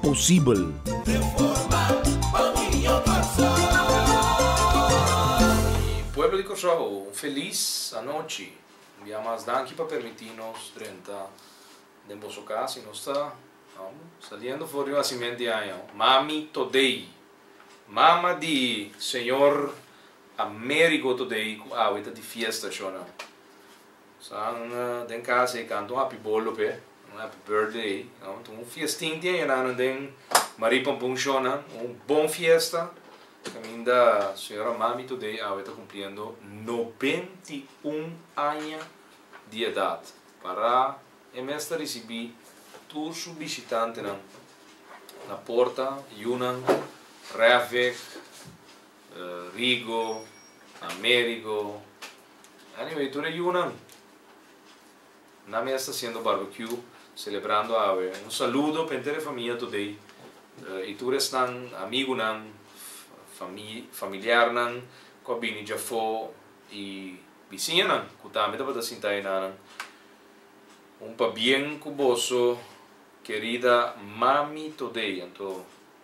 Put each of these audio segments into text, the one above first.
posibel. Pueblo di Cursao, un felis anochi. Un bia mas danki pa permiti nos drenta den boso cas y nos ta saliendo for di un hacimento di aña. Mami today, mama di señor Amerigo today cu awe ta di fiesta shona. San den casa ey canta un happy bolo p'e, un happy birthday ey, no? Tin un fiestin tin ayunan nan den Marie Pampun shownan, un bon fiesta, caminda señora Mami today awe ta cumpliendo noventa i un aña di edad, para e mes ta ricibi tur su bishitantenan na porta, yunan, refweg. Rigo, Amerigo, anyway tur e yunan nan mes ta haciendo barbecue celebrando awe, un saludo pa henter e famia today y tur esnan amigunan, familiarnan cu a bini dja afo y bisiñanan cu tambe tabata sinta ay nanan, un pabien cu boso querida mami today anto.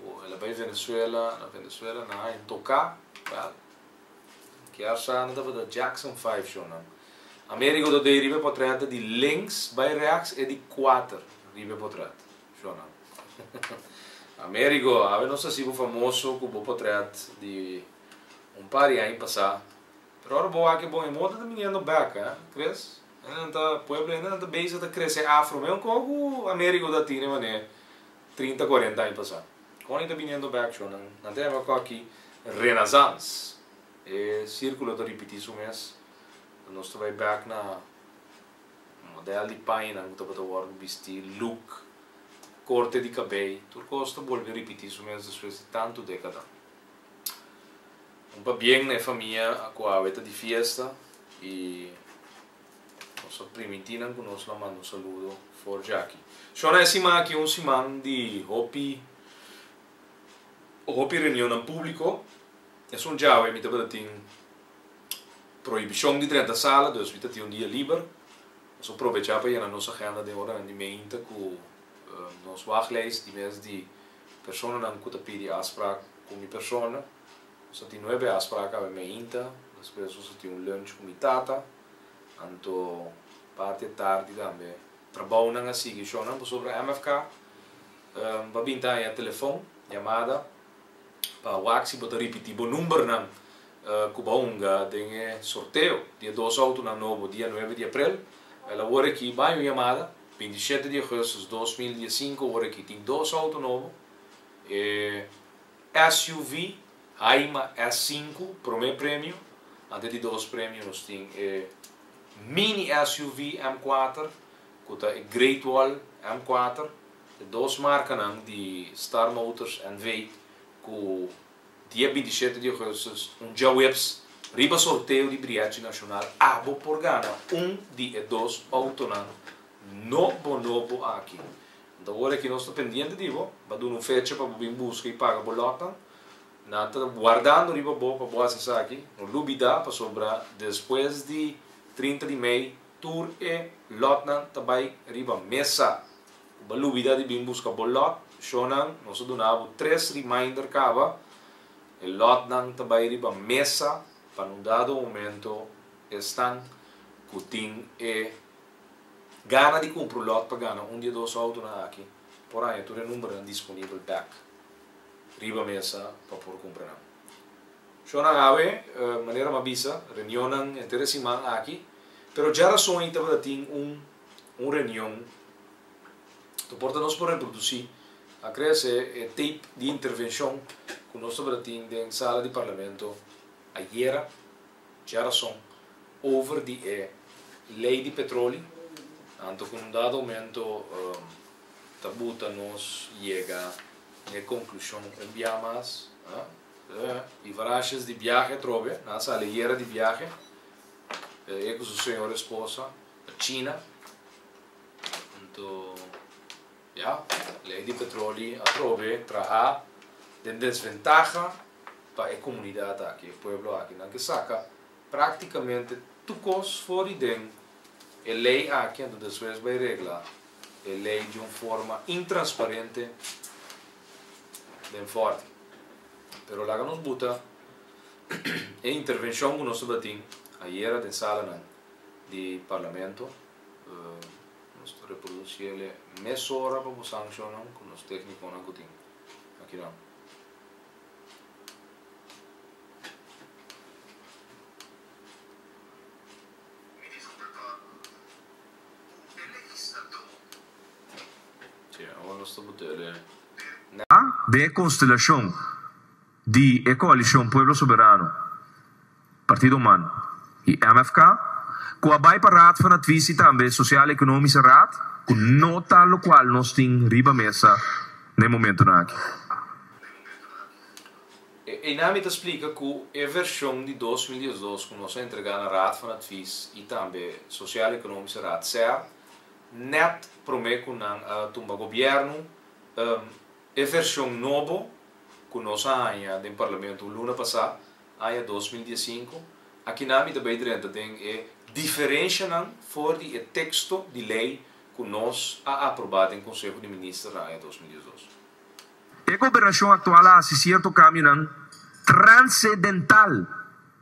Cu el a bay Venezuela, na Venezuela nan hay toca, well, kiarsá nan tabata Jackson Five shownan. Amerigo ta dei riba e potret di links bay rechts e di kuater riba e potret shownan. Amerigo, awe nos hasibo famoso cu bo potret di un par di aña pasá, pero ora bo wak e bon e moda ta biniendo back, eh, Chris? Hendenan ta, pueblo hendenan ta bezi ta crece afro, meun coho cu Amerigo ta tin e mané. Trinta, kuarenta aña pasá, kònde ta biniendo bèkchò, nan ta yama kò akí renazans. E sírkulo ta ripití su mes. Nos ta bai bèk na modèl di pañanan ku tabata wòrdu ku bistí, luk, korte di kabei, tur kos ta bolbe ripití su mes despues di tantu dékada. Un pabien na e famia ku awe ta di fiesta i. Nos ta primiti nan cu nos la manda un saludo for djaki. Shona e siman aki un siman di hopi hopi reunionnan publico. Esun djawe mi tabata tin prohibicion di drenta sala, dus mi ta tin un dia liber. Nos a probecha pa yena nos agenda den oranan di meinta cu nos wachtlijst di mes di personanan cu ta pidi afsprak cu mi persona. Nos a tin nuebe afspraak awe meinta, despues nos a tin un lunch ku mi tata, anto parti e tardi tambe trabounan a sigui shonnan pasobra MFK pa bin taña telefon yamada pa wak si bo ta ripiti bo numbernan ku bo a hunga den e sorteo di e dos outonan nobo dia nuebe di aprel, el awor aki baña un yamada, binti i shete di augustus dos mil dies i sinku awor aki tin dos outo nobo, e. SUV Haima S sinku, promé premio, antes di dos premio nos tin e Mini SUV M kuater ku ta e Great Wall M kuater, e dos markanan di Star Motors NV ku dia binti shete di Augustus un djaweps riba sorteo di Briachi Nashonal abo por gana un di e dos outonan nobo nobo aki Nta ora ki nos ta pendiente di bo, bo a duna un fecha pa bo bin buska i paga bo lòknan, nan ta guardando riba bo pa bo hasi esaki. No lubidá, pasobra despues di trinta di mei tur e lòtnan ta bai riba mesa. Ku bo a lubidá di bin buska bo lòt, shònan, nos a duna bo tres reminder kaba, e lòtnan ta bai riba mesa pa un dado momento esnan ku tin e. Gana di kumpru lòt pa gana un di e dos outonan aki por haña tur e numbernan disponibel bèk riba mesa pa por kumpra nan. Shò nan awe, manera m'a bisa, reunionnan henter e siman aki, pero dja rason ei tabata tin un un reunion ta por ta nos por reprodusí, a krea esei, e tape di intervenshon ku nos tabata tin den sala di Parlamento ayera, Dje rason, over di e lei di petroli, anto ku un dado momento ta buta nos yega na e konklushon un bia mas, i varasjes di biahe atrobe, nan a sali ayera di biahe, e ku su señor esposa, pa China, anto. Ya, lei di petroli atrobe traha den desventaha pa e comunidad aki, e pueblo aki, nan ke saca practicamente tur cos for di den e lei aki, anto despues bay regla e lei di un forma intransparente den forti. Pero laga nos buta e intervencion cu nos tabatin ayera den salanan di parlamento. Nos ta reproduci el e mesora pa bo sanciona cu nos tecniconan cu tin aki nan. Awa nos ta botele. Nan den e constelacion. di e Coalición Pueblo Soberano, Partido Man y MFK, cu a bay pa Raad van Advies y tambe Sociaal Economische Raad, cu no ta locual nos tin riba mesa na e momentonan aki. Eyna mi ta splica cu e version di dos mil diesdos cu nos a entrega na Raad van Advies y tambe Sociaal Economische Raad, ser, net prome cu nan a tumba Gobierno, E version nobo cu nos a haña den Parlamento luna pasá, aña dos mil dies sinku, aki na mi ta bay drenta den e diferencianan for di e texto di ley cu nos a aprobá den Conseho di Ministernan aña dos mil diesdos. E gobernacion actual a haci cierto cambionan transedental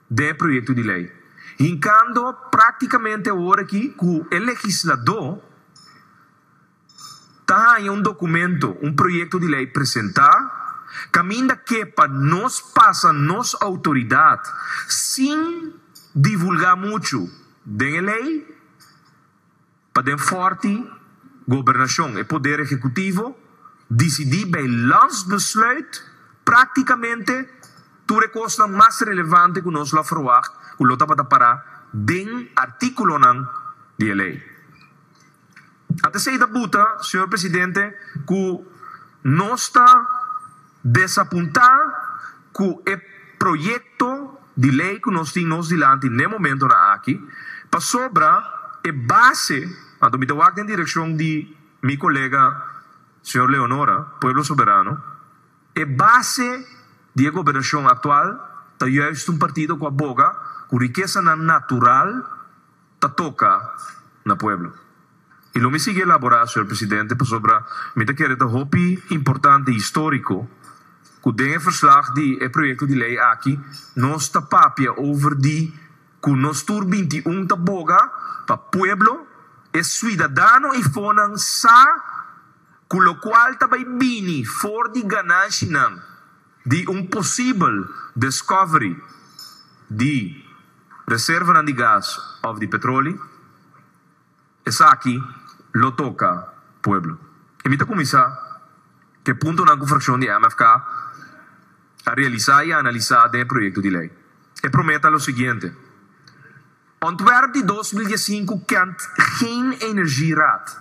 den e proyecto di ley, hincando practicamente awor aki cu e legisladó, Ta haña un dokumento, un proyekto di lei presentá kaminda ke pa nos pasa nos outoridat sin divulgá muchu den e lei pa den fòrti gobernashon, e poder ehekutivo, disidí bei landsbesluit praktikamente tur e kosnan mas relevante ku nos lo a ferwagt ku lo tabata pará den artíkulonan di e lei. A ta esei ta buta, Señor Presidente, cu nos ta desapunta cu e proyecto di ley cu nos tin nos dilanti n'e momentonan aki, pasobra e base, anto mi ta wak den direccion di mi colega Señor Leonora, Pueblo Soberano, e base di e gobernacion actual ta juist un partido cu a boga cu riquesanan natural, ta toka na pueblo. Y lo mi sigui elabora señor presidente pasobra mi ta kere ta hopi importante y historico cu den e verslag di e proyecto di ley aki nos ta papia over di cu nos tur binti i un ta boga pa pueblo, e suidadano y fonan sa cu locual ta bay bini for di gananshinan Di un posibel discovery di reservanan di gas of di petroli, esaki lo toca pueblo. Y mi ta cuminsa cu e puntonan cu fraccion di MFK a realisa y a analisa den e proyecto di ley. E prome ta lo siguiente, Ontwerp di dos mil diescinco kent geen energie raad.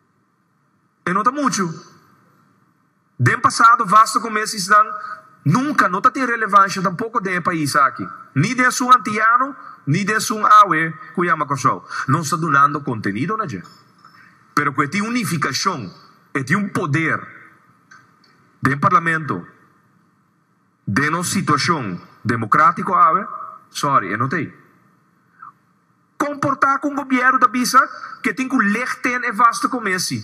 E no ta muchu. Den pasado, Vasto ku mesisnan nunka no ta tin relevansha tampoko den e pais aki, ni den esun antiyano, ni den esun awe ku yama Kòrsou. Nos ta dunando kontenido na dje, pero ku e tin un nifikashon, e tin un poder den parlamento, den nos situashon demokratiko awe, sòri, e no ta ei. Komportá ku un gobièrnu ta bisa ku e tin ku leg ten e vaste komesi.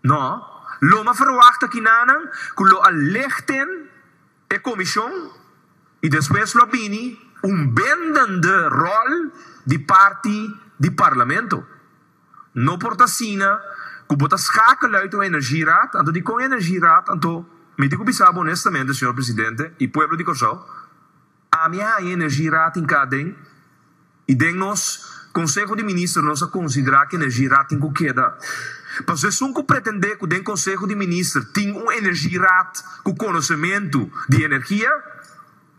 No. Lo m'a ferwachta kinanan ku lo a leg ten e komishon i despues lo a bini un bindende ròl di parti di parlamento. No por ta asina ku bo ta skakela uit un energie-raad, anto dikon e energie-raad anto? Mi tin ku bisa bo onestamente, señor presidente i pueblo di Kòrsou, Ami a haña energie rating ka den y den nos Conseho di Minister nos a considera cu energie rating cu keda. Paso esun cu pretende cu den Conseho di Minister tin un energie raad cu conocemento di energia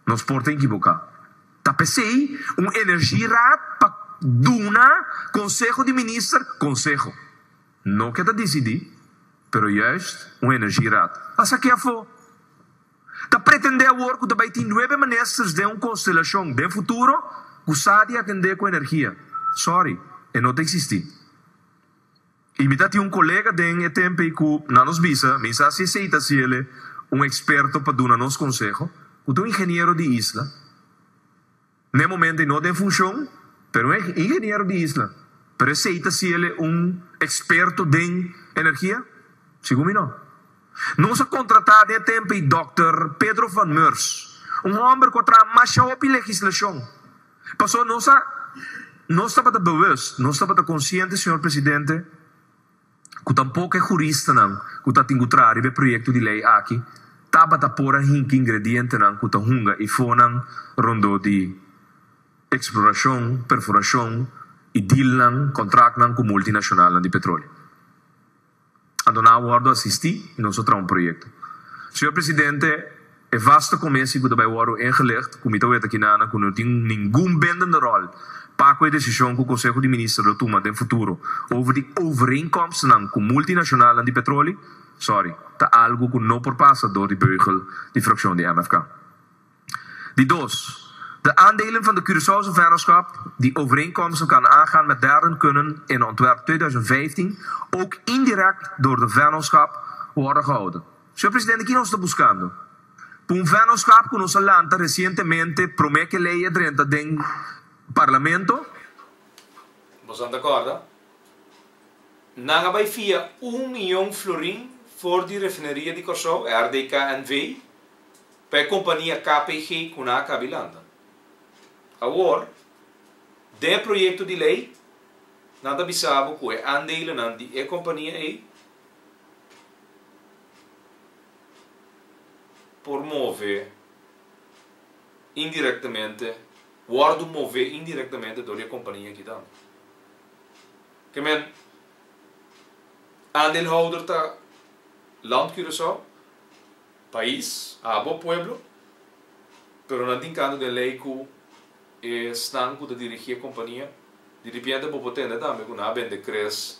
nos por ta equivoca. Ta pesey un energie raad pa duna Conseho di Minister conseho. No ke ta dicidi pero juist un energie raad. Pasa aki afo. Ta pretendé awor ku ta bai tin nuebe ministers den un konstelashon den futuro ku sa di atendé ku energia? Sòri, e no ta eksistí. I mi ta tin un kolega den e tempe ku nan nos bisa, mi sa si esei ta siele un eksperto pa duna nos konseho, ku ta un ingeniero di isla. Na e momento e no ta en funcion, pero un ingeniero di isla, pero esey ta si el'e un experto den energia? Segun mi no. Nos a contrata den e tempo ei Dòkter Pedro van Meurs, un homber cu a traha masha hopi legislacion. Paso nos a nos tabata bewust, nos tabata consciente, señor presidente, ku tampoco e juristanan ku ta tingutrá riba e proyekto di lei aki tabata por a hinki ingredientenan ku ta hunga i fonan rondó di eksplorashon, perforashon i dealnan, kontraktnan, ku multinashonalnan di petroleo. Anto nan a wòrdu asistí i nos a traha un proyekto. Señor Presidente, E vaste comisie cu ta bay worde ingelicht, cu mi ta wet akinana cu no tin ningun bindende rol pa cu e decision cu Conseho di Minister lo tuma den futuro over di overeenkomstnan cu multinacionalnan di petroli, sorry, ta algo cu no por pasa door di beugel di fraccion di MFK. Di dos, de aandelen van de Curaçaose Vennootschap, die overeenkomsten kan aangaan met derden kunnen in ontwerp tweeduizend vijftien ook indirect door de Vennootschap worden gehouden. Señor Presidente, ki nos ta buskando? Pa un vennoschap cu nos a lanta recientemente prome ke ley e drenta den Parlamento. Boso a ta corda? Nan a bay fia un miyon florin for di Refineria di Corsou, e RDK NV, pa e compania KPG cu nan a cabi lanta. Awor, den e proyecto di ley, nan ta bisa bo cu e aandelenan di e compania ey, por move indirectamente, wordu move indirectamente dor di e compania aki tambe. Ke men, aandeelhouder ta Land Curaçao, pais, abo pueblo, pero nan tin kantu den ley ku esnan ku ta dirigi e compania, di ripiente bo por tende tambe ku nan a bende cres,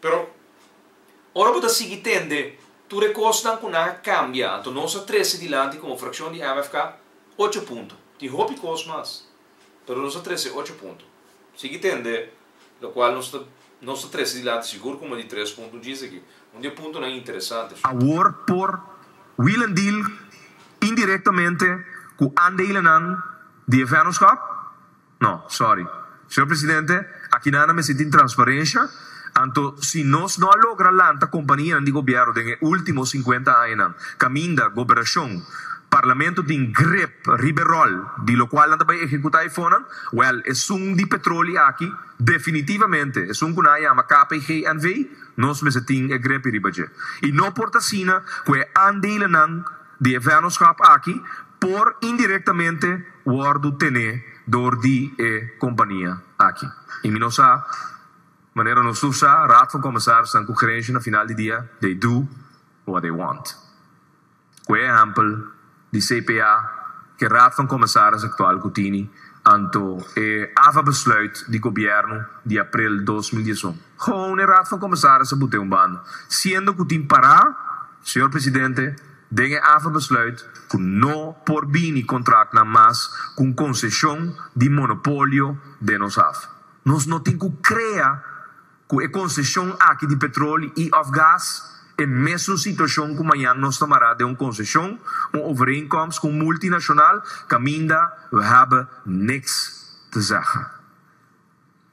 Pero, ora bo ta sigui tende tur e kosnan ku nan a kambia, anto nos a trese dilanti komo frakshon di MFK ocho punto. Tin hopi kos mas, pero nos a trese ocho punto. Sigui tende, lokual nos ta nos ta trese dilanti sigur kuma di tres punto un djis aki. Un di e puntonan interesante su. Awor por Willem deal indirektamente ku aandelenan di e vennonskap. No, sorry. Señor Presidente, aki nan a mester tin transparencia, anto si nos no a logra lanta companianan di Gobierno den e ultimo cincuenta añanan, caminda Goberacion, Parlamento tin grip riba e rol di locual nan ta bay ehecuta e fonnan, well, esun di Petroli aki, definitivamente, esun cu nan a yama KPGNV, nos mester tin e grip riba dje. Y no por ta asina cu e aandelenan, di e vènòskap aki por indirektamente wòrdu tené dor di e kompania aki. I mi no sa manera nos tur sa, Raad van Commissarisnan ku gerenshi na final di dia they do what they want. Ku e ehèmpel di CPA ku e Raad van Commissaris aktual ku tini anto e ava besluit di gobièrnu di aprel dos mil dies un. Gewoon e Raad van Commissarissen moet den un banda, siendo cu tin pará, Señor Presidente, den e afa besluit cu no por bini contractnan mas cu un concecion di monopolio den nos afa. Nos no tin cu crea cu e concecion aki di petroli y of gas e mesun situacion cu mañan nos ta mará den un concecion, un overeenkomst cu un multinacional caminda we hebben niks te zeggen.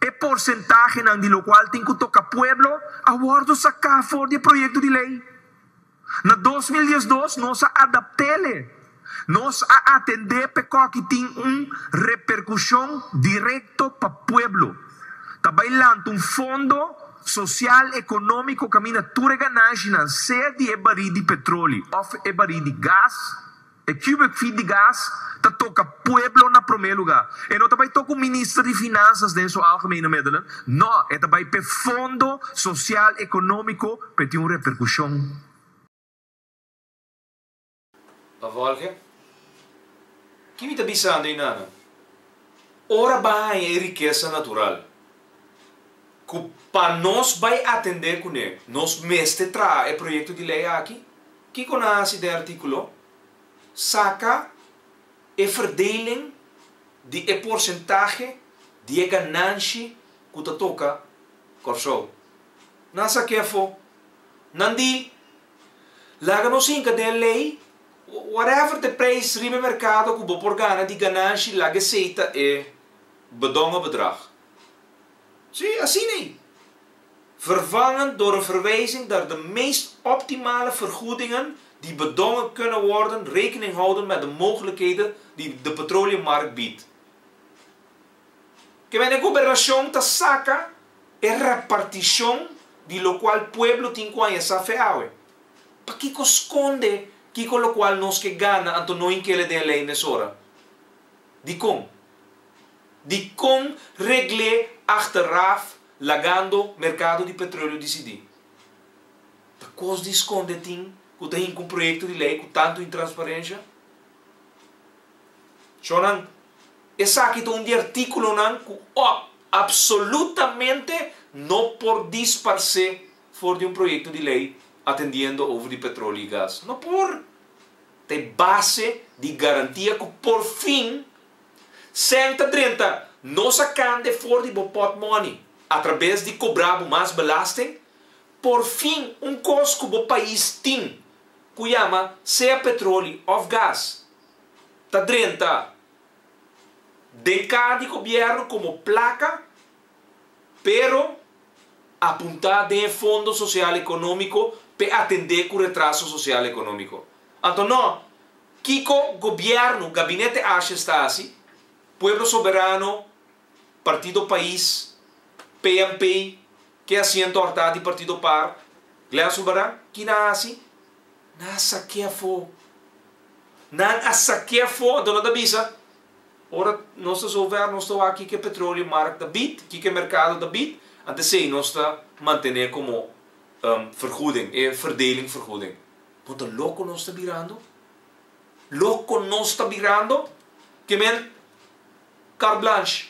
E porsentahenan di lokual tin ku toka pueblo a wòrdu saká for di e proyekto di lei. Na dos mil diesdos nos a adapt'ele. Nos a atendé p'ekòki tin un reperkushon direkto pa pueblo. Ta bai lanta un fondo sosial ekonómiko kaminda tur e ganashinan, sea di e barí di petroli òf e barí di gas, E Cubic Feet di gas ta toka pueblo na prome luga. E no ta bai toku minister di finansas den su algemene middelen, no, e ta bai p'e fondo sosial economico p'e tin un repercusion. Pa Volge, Ki mi ta bisando ei nanan? Ora ban haña e rikesa natural ku pa nos bai atende kune nos mester traha e proyekto di lei aki, Kiko nan a hasi den artíkulo? Saka e verdeling di e porsentahe di e gananshi ku ta toka Kòrsou. Nan sa ke afó? Nan di, Laga nos hinka den e lei, whatever the prijs riba e merkado ku bo por gana di gananshi, laga esei ta e bedònga bedrag. Sí, asina ei. vervangen door een verwijzing naar de meest optimale vergoedingen die bedongen kunnen worden rekening houden met de mogelijkheden die de petroleummarkt biedt. Kende den gobernacion ta saca e reparticion di locual pueblo tin cu a yesa fe awe? Pakico sconde kico locual nos ke gana anto no hinkele den e ley mesora? Dicon? Dicon regle achteraf Lagando merkado di petroleo disidí. Ta kos di skonde tin ku ta hinka un proyekto di lei ku tantu intransparensha? Chonan, esaki ta un di artíkulonan ku òf apsolutamente no por disparsé for di un proyekto di lei atendiendo over di petroli i gas. No por! Ta e base di garantia ku porfin, Senta drenta nos a kande for di bo pot moni atrabes di kobra bo mas belasting porfin un kos ku bo pais tin ku yama sea petroli of gas ta drenta den ka di gobièrnu komo plaka pero a punta den e Fondo Social Economico p'e atende cu retraso social economico. Anto no, kico Gobierno, Gabinete Ashes ta haci? Pueblo Soberano, Partido Pais, PNP, ke asiento arta di Partido Par, Glen Zulbarán, kina a haci? Nan a sakea fo. Nan a sakea fo, anto no ta bisa. Ora nos ta zover, nos ta wak kiko petrolio mark ta bid, kiko e merkado ta bid, anto esei nos ta mantene komo vergoeding, e verdeling vergoeding. Bo ta loko nos ta birando? Loko nos ta birando? Ke men carte blanche,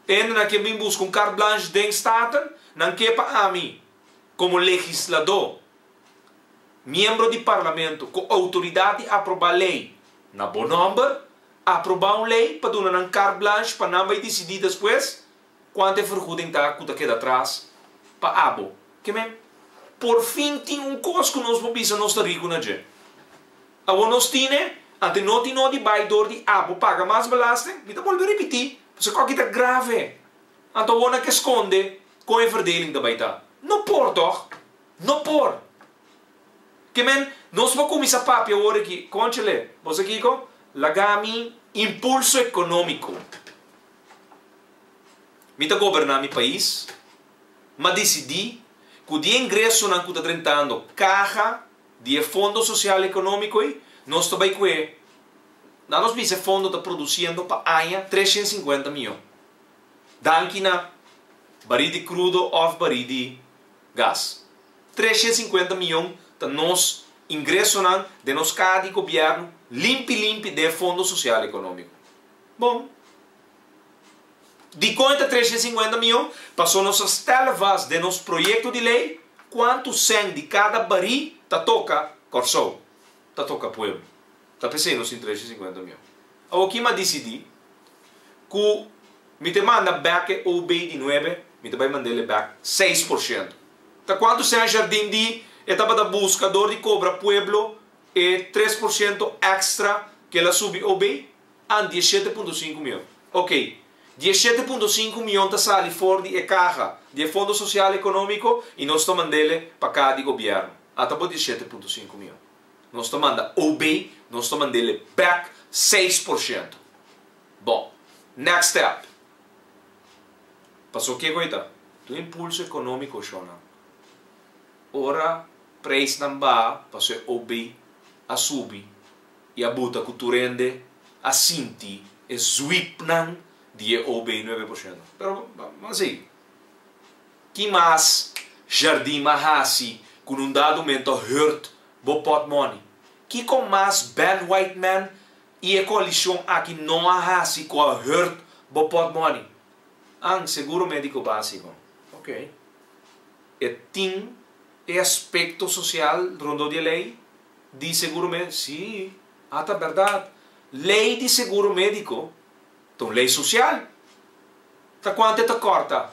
e hendenan ke bin buska un carte blanche den Staten, nan ke pa ami, komo legisladó, miembro di parlamento, ku outoridat di aproba lei na bo nòmber, Aprobá un lei pa duna nan carte blanche pa nan bai disidí despues cuanta e vergoeding ta cu ta keda atras pa abo. Ke men? Por fin tin un cos cu nos por bisa nos ta ricu na dje. Awor nos tine, ante no tin nodi bai door di abo paga mas belasting. Mi ta bolbe ripití, pues e coki ta grave. Anto awor na ke sconde con e verdeling ta bai ta? No por toch? No por! Kimen, nos por kuminsá papia wòrdu aki, kònchele, bo sa kiko? Laga mi impulso ekonómiko. Mi ta goberná mi pais, m'a disidí ku di e ingresonan ku ta drentando kaha di e Fondo Sosial Ekonómiko ei, nos ta bai ku e. Na nos bisa e fondo ta produsiendo pa aña tres shent sinkuenta miyon. Danki na barí di krudo òf barí di gas. Trescientos y cincuenta miyon ta nos ingresonan den nos kaha di gobièrnu limpi limpi den e Fondo Sosial Ekonómiko. Bon, dikon e ta trescientos y cincuenta miyon? Pasó nos a stèl vast den nos proyekto di lei kuantu sèn di kada barí ta toka Kòrsou, ta toka pueblo. Ta p'esei nos tin tres i sinkuenta mion. Awor kiman disidí ku mi ta manda bèk e OB di nuebe? Mi ta bai manda el bèk seis por shento. Ta kuantu Saint Jardin di e tabata buska dor di kobra pueblo e tres por shento èkstra ku el a subi OB? An dies shete punto sinku mion. Okey, dies shete punto sinku mion ta sali for di e kaha di e Fondo Sosial Ekonómiko i nos ta manda el pa kaha di gobièrnu. Ata bo dies shete punto sinku mion. nos ta manda OB, nos ta mandele bek seis por shento. Bo, next step. Paso ke ku ei ta? Tur impulso ekonómiko shonnan. Ora preisnan baha, paso e OB a subi i a buta ku tur hende a sinti e zwipnan di e OB nuebe por shento. Pero, bo, bo a sigui. Ki mas jardin ma hasi cu nun dado mento hurt bo pot money? Kicon mas Ben White Man y e coalicion aki no a hasi cu a hurt bo pot money? Ang seguro medico basico. Ok. E tin e aspecto social rondó di e ley di seguro medico? Si. Ata berdad. Ley di seguro medico ta un ley social. Ta cuanto e ta corta?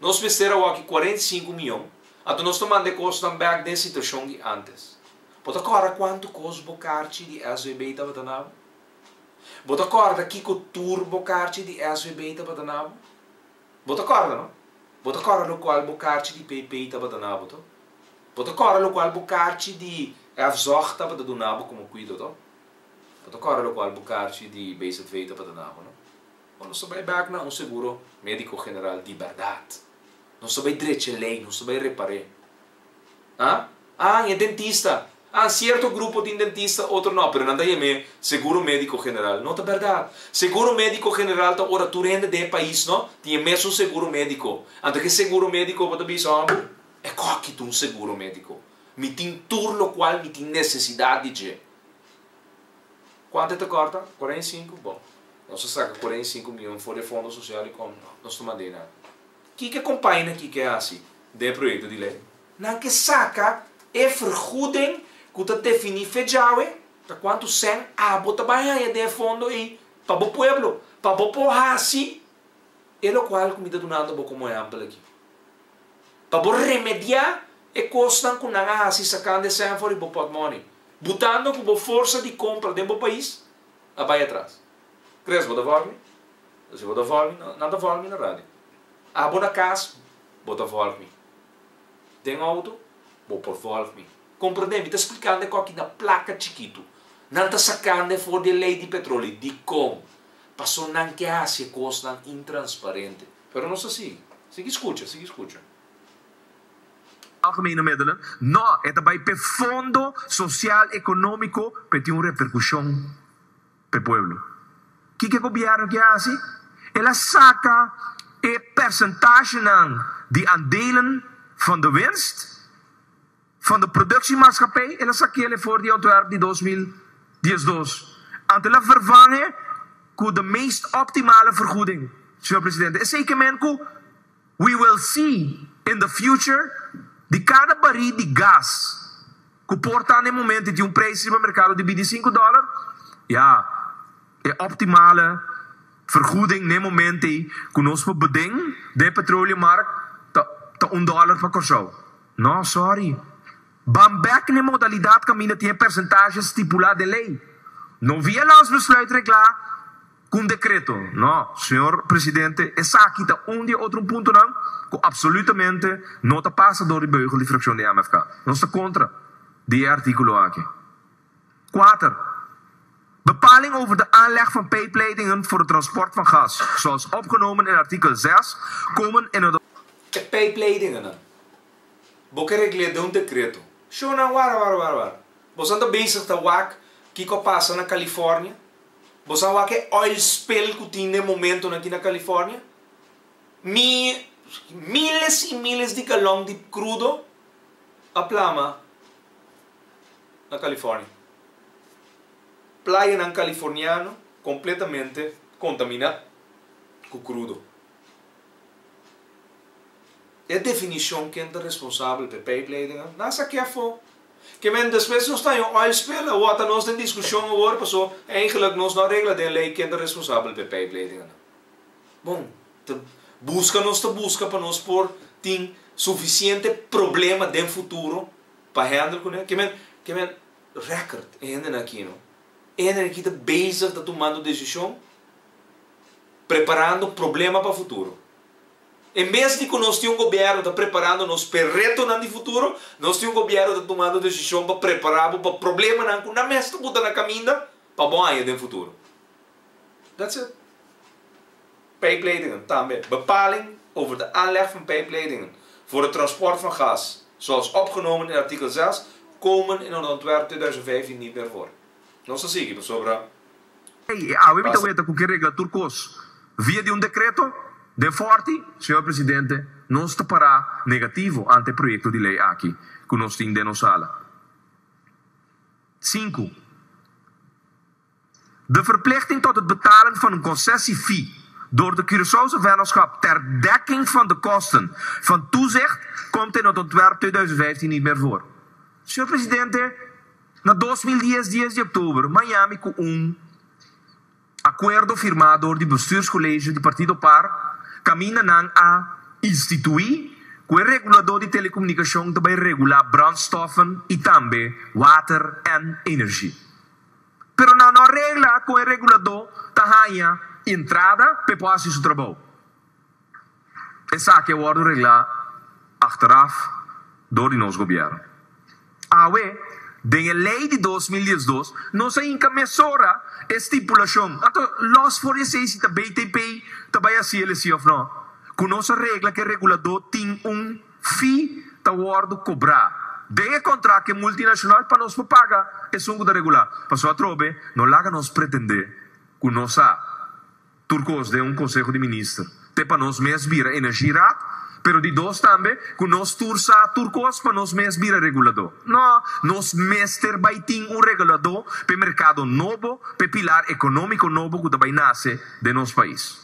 Nos mester awaki cuarenta i sinku miyon, anto nos ta manda e kosnan bek den situashon di antes. Bo ta kòrda kuantu kos bo karchi di SVB tabata na bo? Bo ta kòrda kiko tur bo karchi di SVB tabata na bo? Bo ta kòrda, no? Bo ta kòrda lokual bo karchi di PP tabata na bo, to? Bo ta kòrda lokual bo karchi di FZOG tabata duna bo komo kuido, to? Bo ta kòrda lokual bo karchi di BZV tabata na bo, no? Bo no sa bai bak na un seguro medico general di berdad. No sa bai drecha e ley, no sa bai repar'e. Ah, ah, e dentista. Ah, cierto grupo tin dentista, otro no, pero nan ta yam'e seguro medico general. No ta berdad. Seguro medico general ta ora tur hende den e pais no tin e mesun seguro medico. Anto ke seguro medico bo ta bisa, hombre, e koki ta un seguro medico. Mi tin tur lokual mi tin necesidad di dje. Cuanto e ta corta? Cuarenta y cinco, bon, nos a saca cuarenta y cinco mion for di e fondo social y con nos ta manda enan. Kiko e compaña aki ke haci den e proyecto di ley? Nan ke saca e vergoeding cu ta defini fecha awe, ta cuanto cent abo ta bay haya den e fondo ey pa bo pueblo, pa bo por haci e locual cu mi ta dunando bo como ehempel aki, pa bo remedia e cosnan cu nan a haci sacando e cent for di bo pot money. butando cu bo forsa di compra den bo pais a bay atras. Tres bo ta volgmi? Si bo ta volgmi, nan ta volgmi na radio. Abo na cas, bo ta volgmi. Den auto, bo por volgmi. Comprende? Mi ta splicando e coki na placa chikitu. Nan ta sacando e for di e ley di petroli. Dicon? Paso nan ke haci e cosnan intransparente. Pero nos ta sigui. Sigui scucha, sigui scucha. Algemene middelen, no, e ta bai p'e fondo sosial ekonómiko p'e tin un reperkushon p'e pueblo. Kiko e gobièrnu ke hasi? El a saka e persentashenan di aandelen van de winst van de productiemaatschappij, el a sa kele for di ontwerp di dos mil diesdos, anto el a vervanghe ku de meest optimale vergoeding. Señor Presidente, esei ke men ku We will see in the future di kada barí di gas ku por ta na e momento i tin un preis riba merkado di bintisinko dòler, ya e optimale vergoeding na e momento ei ku nos por beden den e petroleummark ta ta un dòler pa Kòrsou. No, sòri. Ban bèk na e modalidat kaminda tin e persentashe stipulá den lei. No via Landsbesluit reglá. Cu un decreto? No, señor Presidente, esaki ta un di e otro puntonan cu absolutamente no ta pasa dor di beugel di fraccion di MFK. Nos ta contra di e articulo aki. Kuater, bepaling over de aanleg van pijpleidingen voor het transport van gas, zoals opgenomen in artikel zes, komen in het. E pijpleidingennan, bo ke regl'é den un decreto. Shownan, wara, wara, wara, wara. Bosan ta bezig ta wak kiko a pasa na California? Bo sa wak e oil spill ku tin den momentunan aki na California? Mi, miles i miles di galon di krudo a plama na California. Playanan californiano kompletamente kontaminá ku krudo. E definishon ken ta responsabel p'e pijpleidingen nan sak'é afó. Ke men despues nos ta yon oil spill a wota nos den discusion awor paso eigenlik nos no a regla den ley ken ta responsabel p'e pijpleiding anan. Bon, ta busca nos ta busca pa nos por tin suficiente problema den futuro pa handle cune. Ke men ke men record e hendenan aki no. E hendenan aki ta bezig ta tumando decision preparando problema pa futuro. En bes di ku nos tin un gobièrnu ta preparando nos p'e retonan di futuro, nos tin un gobièrnu ta tumando desishon pa prepará bo pa problemanan ku nan mes ta buta na kaminda pa bon aña den futuro. That's it. Pijpleidingen tambe. Bepaling over de aanleg van pijpleidingen voor het transport van gas, zoals opgenomen in artikel zes, komen in een ontwerp tweeduizend vijftien niet meer voor. Nos a sigui pasobra. Ey, e awe mi ta weta cu ke regla tur cos via di un decreto? Den forti, Señor Presidente, nos ta para negativo ante e proyecto di ley aki cu nos tin den nos sala. Sinku, De verplichting tot het betalen van een concessie-fee door de Curaçaose Vennootschap ter dekking van de kosten van toezicht komt in het ontwerp tweeduizend vijftien niet meer voor. Señor Presidente, Na dos mil dies dies di oktober, Miami ku un akuerdo firmá dor di Bestuurskollegio di Partido Par kaminda nan a instituí ku e reguladó di telekomunikashon ta bai regulá brònstoffen i tambe water èn energi. Pero nan no a regla kon e reguladó ta haña entrada pa e por hasi su trabou. Esaki a wòrdu reglá achteraf dor di nos gobièrnu. Awe, den e lei di dos mil diesdos, nos a hinka mesora e stipulashon, a ta lòs for di esei si ta BTP ta bai hasi el esei òf nò, ku nos a regla ku e reguladó tin un fee ta wòrdu kobrá den e kontrakt ku e multinashonal pa nos por paga esun ku ta regulá. Pasó atrobe no laga nos pretendé ku nos a. Tur kos den un konseho di minister. Te pa nos mes bira energieraad, pero di dos tambe ku nos tur sa tur kos pa nos mes bira reguladó. No, nos mester bai tin un reguladó p'e merkado nobo, p'e pilar ekonómiko nobo ku ta bai nase den nos pais.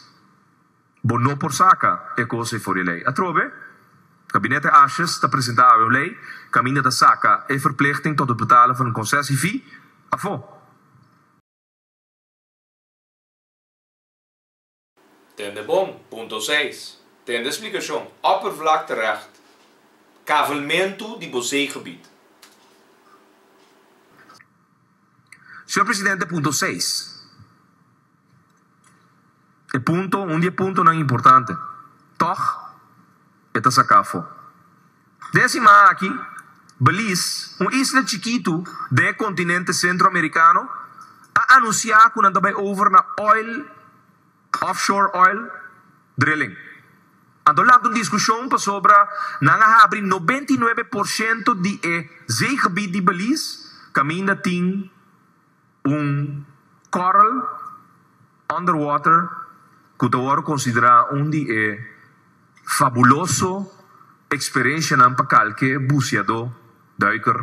Bo no por saka e kos ei for di e lei. Atrobe, Gabinete Ashes ta presentá awe un lei, kaminda ta saka e verplichting tot het betalen van een concessiefee afó. Tende bon. Punto seis, Tende splikashon, Oppervlakterecht, Kavelmentu di bo zeegebied. Señor Presidente, punto seis, E punto, un di e puntonan importante. Tòg. e ta saká afó. Den e siman aki, Belize, un isla chikitu den e kontinente Sentro-Amerikano, a anunsiá ku nan ta bai over na oil, offshore oil, drilling. Anto lanta un diskushon pasobra nan a habri nobenta i nuebe por shento di e zeegebied di Belize kaminda tin. Un coral underwater cu ta worde considera un di e fabuloso experiencianan pa calke buceador, duiker,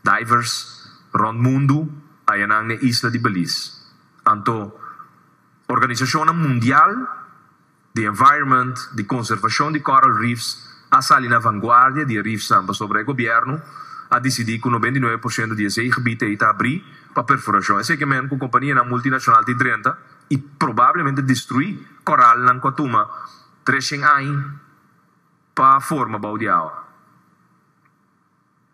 divers, rond mundu ayanan n'e isla di Belize. Anto, organisacionnan mundial di environment, di conservacion di coral reefs a sali na vanguardia di e reefsnan pasobra e gobierno a dicidi cu nobenta y nuebe por ciento di esey gebied ey ta abri pa perforacion. Esey ke men cu companianan multinacional ta y drenta y probablemente destrui coralnan cu a tuma tres cien aña pa forma bou di awa.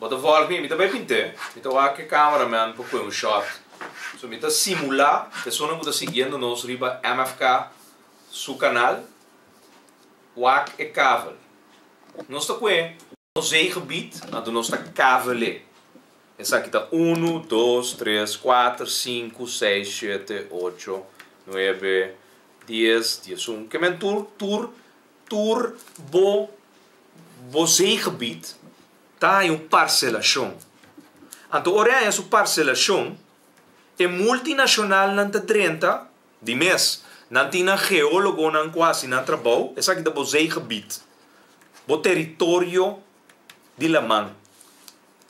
Bo ta volg mi, mi ta bai p'int'é, mi ta wak e cameraman pa poi un shot, so mi ta simula pesona ku ta siguiendo nos riba MFK su canal wak e kavel. Nos ta poi e. Nos zeegebied, anto nos ta kavel'é. Esaki ta unu, dos, tres, kuater, sinku, seis, shete, ocho, nuebe, dies, diesun, ke men tur tur. Tur bo bo zeegebied ta haña un parselashon. Anto ora e haña su parselashon, e multinashonalnan ta drenta di mes. Nan tin nan geólogonan ku hasi nan trabou. Esaki ta bo zeegebied, bo teritorio di laman.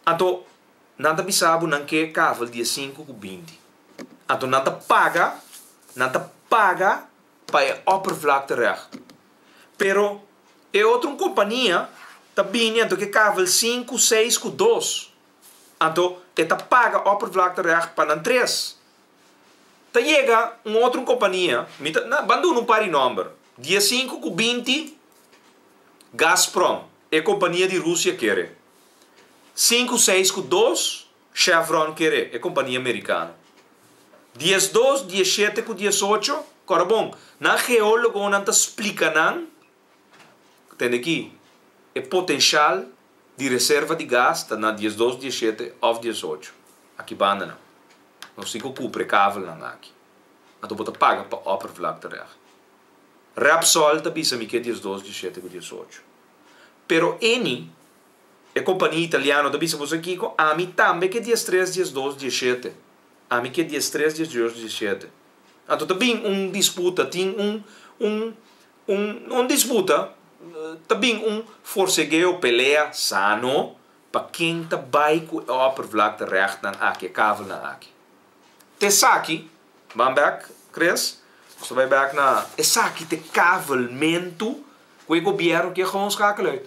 Anto nan ta bisa bo nan ke kafel diesinku ku binti. Anto nan ta paga, nan ta paga. pa e oppervlakterecht. Pero e otro kompania ta bini anto ke kavel sinku, seis ku dos, anto e ta paga oppervlakterecht pa nan tres. Ta yega un otro kompania, mi ta na ban duna un par di nòmber, dia sinku ku binti, Gazprom, e kompania di Rusia kere sinku, seis ku dos, Chevron kere e kompania merikano. Diesdos, dieshete ku diesocho, kòrda bon, nan geólogonan ta splika nan, tende ki, e potenshal di reserva di gas ta na diesdos, dieshete òf diesocho. Aki banda nan. Nos tin ku kupre kabelnan aki. Anto bo ta paga pa oppervlaktereg. Repsol ta bisa mi ke diesdos, dieshete ku diesocho. Pero Eni. E kompania italiano ta bisa, Bo sa kiko? Ami tambe ke diestres, diesdos, dieshete. Ami ke diestres, diesdos, dieshete. Anto ta bin un disputa, tin un, un, un, no un disputa, ta bin un forsegeo, pelea sano pa ken ta bai ku e oppervlakte rechtnan aki, e kavelnan aki. Ta esaki, ban bek, Chris, nos ta bai bek na, esaki ta e kavelmentu ku e gobièrnu ke gou skakela uit.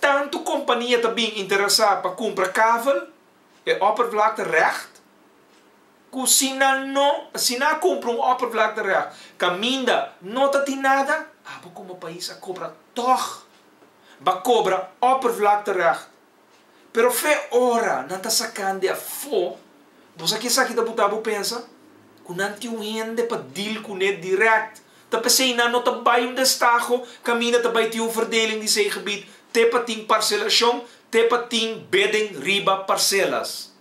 Tantu kompania ta bin interesá pa kumpra kabel e oppervlakte règt ku si nan no si nan a kumpra un oppervlakte règt kaminda no ta tin nada abo komo pais a kobra tòg ba kobra oppervlakte règt Pero fe ora nan ta sakan di afó, boso a ke esaki ta buta bo pensa ku nan tin un hende pa dil kuné dirèkt. Ta p'esei nan no ta bai un destaho kaminda ta bai tin un verdeling di sei gebied te pa tin parselashon te pa tin beden riba parselas.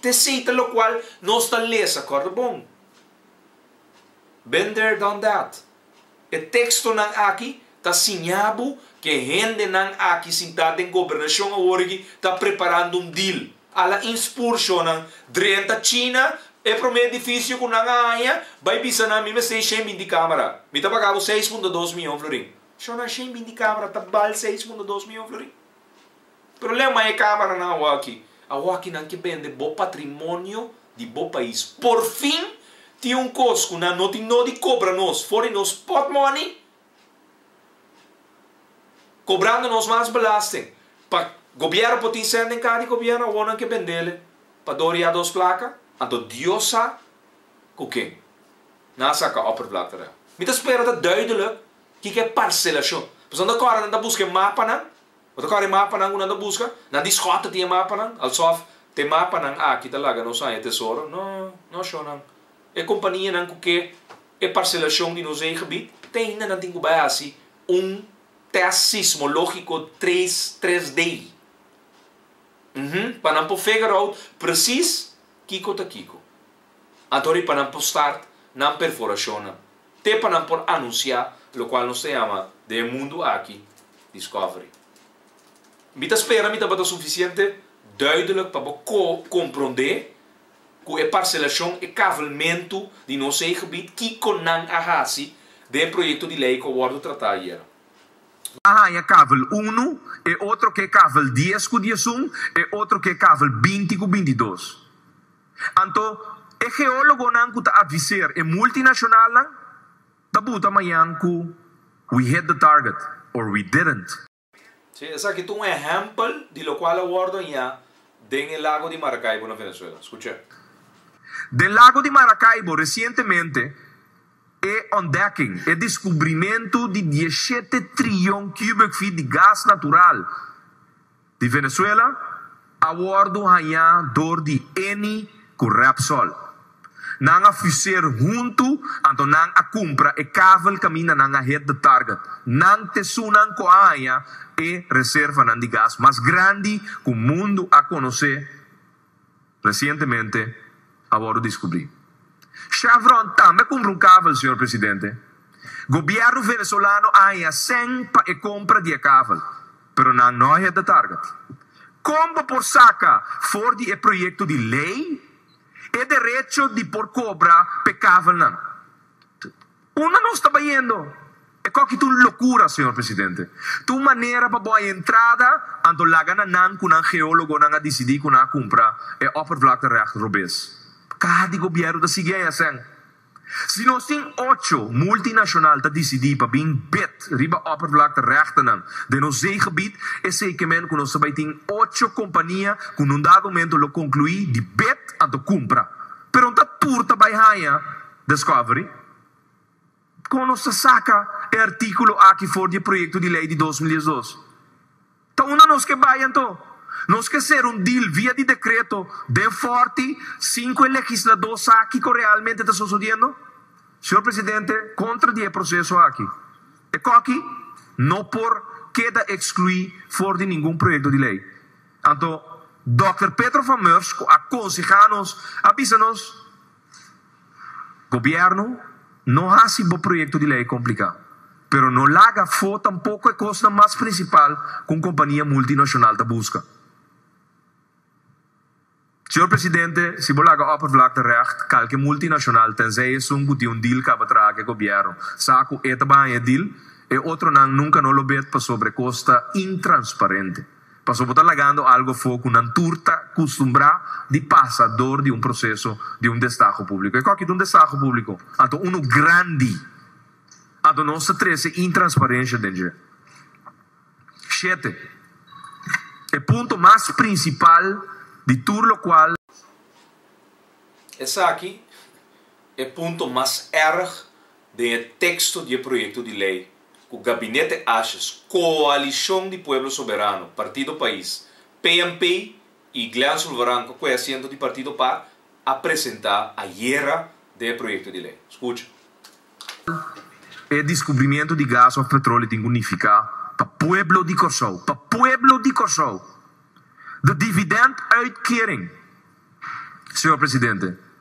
T'esei ta lokual nos ta lesa, kòrda bon. Been there, done that. E tekstonan aki ta siña bo ku e hendenan aki sintá den gobernashon aworiki ta preparando un deal. Ala Ins Purshonnan drenta China e promé edifisio ku nan a haña, bai bisa nan mi mester shen binti kámara. Mi ta paga bo seis punto dos mion florin. Shonnan shen binti kámara ta bal seis punto dos mion florin. Problema e cameranan a waki. A waki nan ki bende bo patrimonio di bo pais. Por fin tin un cos cu nan no tin no di cobra nos for di nos pot money, cobrando nos mas belasting pa gobierno por tin cent den cara di gobierno awor nan ke bendele pa dor ya dos placa. Anto Dios sa cu ken nan a saca oppervlakte ra. Mi ta spera ta duidelijk kiko e parcelacion. Pasobra nan ta corre nan ta busca e mapanan. Bo ta kore mapanan ku nan ta buska? Nan di Scott ta tin e mapanan? Alsof ta e mapanan aki ta laga nos haña tesoro? No, no ashonan. E kompanianan ku ke e parselashon di nos eigen bit, te ainda nan tin ku bai hasi un tèst sismológiko tres, tres D. Uhumm, pa nan por figure out presis kiko ta kiko. Anto riba nan por start nan perforashonnan, te pa nan por anunsiá lokual nos ta yama den e mundu aki Discovery. Mi ta spera mi tabata sufisiente duidelik pa bo komprondé ku e parselashon, e kavelmentu di nos zeegebied, kiko nan a hasi den e proyekto di lei ku a wòrdu tratá ayera. Bo a haña kavel unu, e otro ke kavel dies ku diesun, e otro ke kavel binti ku bintidos. Anto, e geólogonan ku ta adviseer e multinacionalnan ta buta mañan ku We hit the target or we didn't. Si, esaki ta un ehèmpel di lokual a wòrdu hañá den e Lago di Maracaibo na Venezuela. Skucha. Den Lago di Maracaibo resientemente e ontdekking, e deskubrimentu di dieshete trilyon cubic feet di gas natural, Di Venezuela a wordo hañá door di Eni cu Repsol. Nan a fuseer hunto anto nan a cumpra e kavel caminda nan a hit de target. Nan t'esunnan cu a haña e reservanan di gas mas grandi cu mundo a conocé. Recientemente a wòrdu diskubrí. Chevron tambe kumpra un kavel, señor presidente. Gobièrnu venezolano a haña sèn pa e kompra di e kavel, pero nan no a hit e target. Kon bo por saka for di e proyekto di lei e derecho di por kobra p'e kavelnan? Unda nos ta bayendo? E koki ta un lokura, señor presidente. Ta un manera pa bo a entrada anto laga na nan ku nan geólogonan a disidí ku nan a kumpra e oppervlakterecht robes. Kaha di gobièrnu ta sigui ei asèn. Si nos tin ocho multinashonal ta disidí pa bin bid riba oppervlakterechtennan den nos zeegebied, esei ke men ku nos ta bai tin ocho kompania ku n'un dado momento lo konkluí di bid anto kumpra. Peron ta tur ta bai haña. Discovery, Kon nos ta saka e artíkulo aki for di e proyekto di lei di dos mil diesdos? Ta unda nos ke bai anto? Nos ke ser un dil via di dekreto den fòrti sin ku e legisladó sa kiko realmente ta sosodiendo? Señor Presidente, kontra di e proseso aki, e kòki no por keda ekskluí for di ningun proyekto di lei. Anto, Dòkter Pedro van Meurs, ku a konsehá nos, a bisa nos, Gobierno, no haci bo proyecto di ley complica, pero no laga fo tampoco e cosnan mas principal cu un compania multinacional ta busca. Señor Presidente, si bo laga oppervlakte recht, calke multinacional, tenzij esun cu tin un deal caba traha cu e Gobierno, sa cu e ta bahaña e deal, e otronan nunca no lo bet pasobra e cos ta intransparente. Paso bo ta lagando algo afo cu nan tur ta custumbrá di pasa dor di un proceso di un destaho público. E coki ta un destaho público? Anto unu grandi. Anto nos ta trece intransparencia den dje. Shete, e punto mas principal di tur locual. Esaki e punto mas erg den e texto di e proyecto di ley. cu Gabinete Ashes, Coalicion di Pueblo Soberano, Partido Pais, PNP y Glen Sulvaran cu cue asiento di partido pa a presenta ayera den e proyecto di ley. Scucha. E discubrimiento di gas of petrole tin cu nifica pa pueblo di Corsou, pa pueblo di Corsou, de dividend uitkering, Señor Presidente,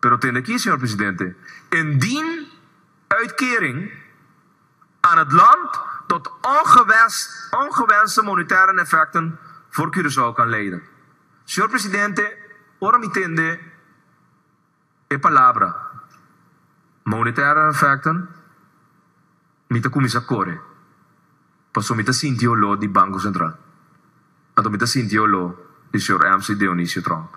Pero tende aki, señor presidente, indien uitkering aan het land tot ongewenste monetaire neffecten voor Curaçao kan leiden. Señor presidente, ora mi tende e palabra monetaire neffecten mi ta cuminsa core paso mi ta sinti e olor di Banco Central, anto mi ta sinti e olor di señor MC. Dionisio Trump.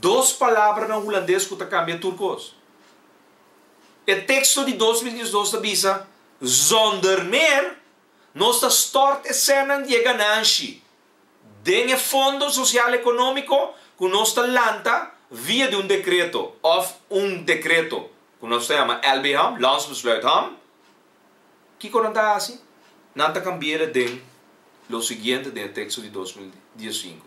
Dos palabra na hulandes ku ta kambia tur kos. E teksto di dos mil diesdos ta bisa, Zonder meer, nos ta stòrt e sènnan di e gananshi den e fondo sosial ekonómiko ku nos ta lanta via di un dekreto òf un dekreto ku nos ta yama LBHAM, Landsbesluit HAM. Kiko nan ta hasi? Nan ta kambi'e den lo siguiente den e teksto di dos mil diessinku.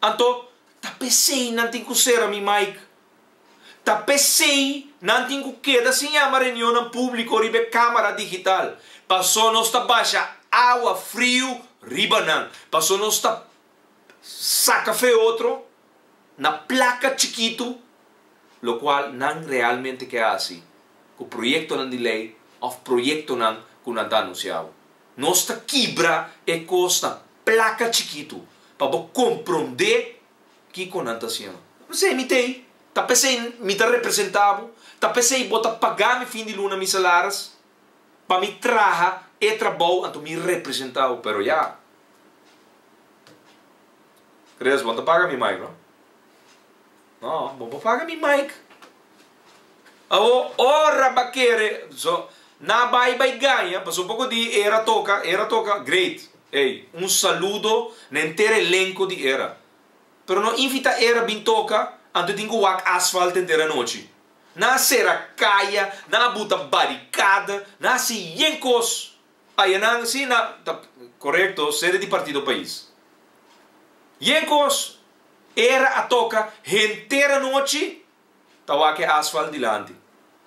Anto, ta p'esei nan tin ku sera mi mic. Ta p'esei nan tin ku keda sin yama reunionnan públiko riba e kámara digital, pasó nos ta basha awa friu riba nan, pasó nos ta saka feotro na plaka chikitu, lokual nan realmente ke hasi ku proyektonan di lei òf proyektonan ku nan ta anunsiá. Nos ta kibra e kosnan. Placa chikitu pa bo compronde kico nan ta haciendo. P'esey mi t'ey, ta p'esey mi ta representa bo, ta p'esey bo ta paga mi fin di luna mi salaris, pa mi traha e trabou anto mi representa bo. Pero ya. Reyes, bo no ta paga mi mai, no? No, bo por paga mi mic. Awo ora ba kere so na bai bai gaña paso poko di era toka era toka great ey un saludo na enter elenco di era pero no invita era bin toka anto tin cu wak asfalt enter anochi na a cera caya na a buta baricada na a haci yen cos Ayenan asina ta korekto sede di partido pais. Yen kos era a toka henter anochi ta wak asfalt dilanti.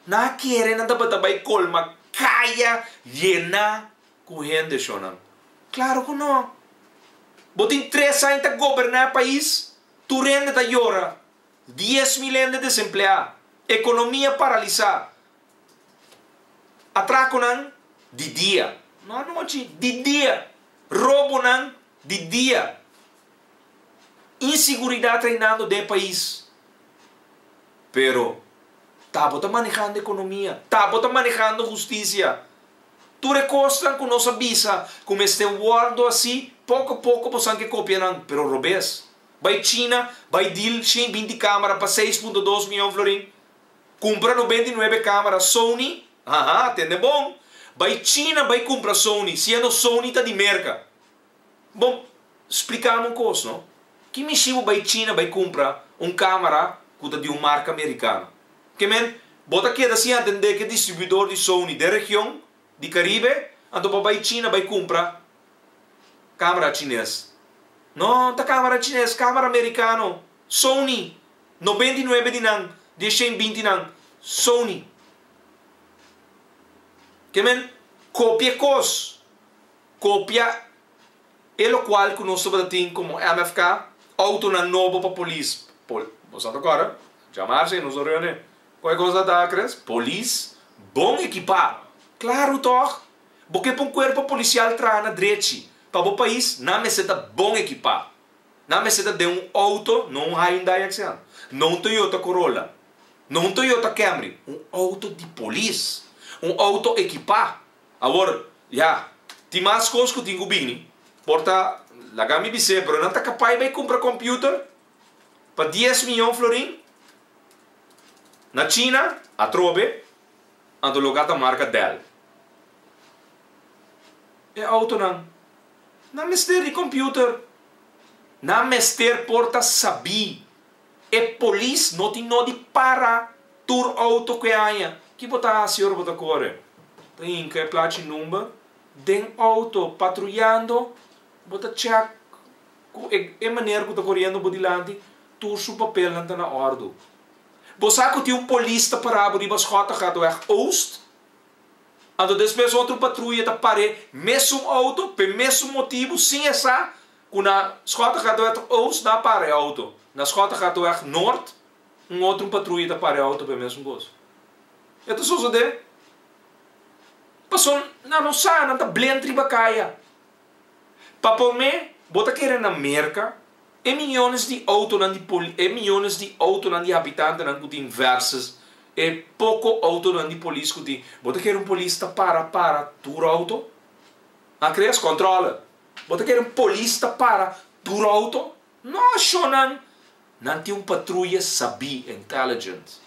Nan a kere nan tabata bai colma kaya yena ku hende shonnan? Claro ku no. Bo tin tres aña ta goberna e pais, tur hende ta yora, dies mil hende desempleá, economia paralisá. Atrakunan di dia, no anochi, di dia. Robonan di dia. Inseguridat reinando den e pais. Pero ta bo ta manehando ekonomia, ta bo ta manehando hustisia. Tur e kosnan ku nos a bisa ku mester wòrdu asi, poko poko bo san ke kopia nan, pero robes. Bai China, bai dil shin binti kamera pa seis punto dos miyon florin. Cumpra no benti nuebe camera Sony, haha, tende bon. Bai China bai cumpra Sony, siendo Sony ta di Merca. Bon, splicame un cos no, ki mishibo bai China bai cumpra un camera cu ta di un marca Mericano? Ke men, bo ta keda sin a tende ke distribuidor di Sony den region di Caribe, anto pa bai China bai cumpra camera Chines? No ta camera Chines, camera Mericano, Sony. Noventa i nuebe di nan di e shen bintinan Sony ke men kopia e kos, kopia e lokual ku nos tabata tin komo MFK, outonan nobo pa polis, pol, boso a ta kòrda? Jamar si nos a reun'é, ku e kos a ta akres? Polis bon ekipá, klaru tòg, bo ke pa un kuerpo polisial traha na drechi pa bo pais, nan mester ta bon ekipá. Nan mester ta den un outo, no un Hyundai Accent, no un Toyota Corolla, no un Toyota Camry, un outo di polis, un outo ekipá. Awor, ya, tin mas kos ku tin ku bini, por ta, laga mi bis'é, pero nan ta kapay bay kumpra kòmpiuter pa dies miyon florin na China? Atrobe, anto lo gata marka Dell e outonan. Nan mester di computer. Nan mester por ta sabí. E polis no tin no di para tur auto cu e aña. Ki bo ta haci ora bo ta core? Ta hinca e placa y number den auto patruyando. Bo ta check cu e e manera cu ta coriendo bo dilanti tur su papelnan ta na ordu. Bo sa cu tin un polis ta para bo riba Schottegaatweg Oost. Anto despues otro patruya ta par'é mesun auto p'e mesun motibu sin e sa cu na Schottegaardeweg Oost na para e auto, na Schottegaardeweg Noord un otro patruya ta para e auto p'e mesun cos. E ta sosodé pasobra nan no sa, nan ta blend riba caya. Pa p'om'é, bo ta kere na Merka e miónes di outonan di poli, e miónes di outonan di habitantenan ku tin vèrsus e poko outonan di polis ku tin, bo ta kere un polis ta para para tur outo? A kre es kòntròle? Bo ta kere un polis ta para tur outo? Nos shonnan, nan tin un patruya sabí, intelligent.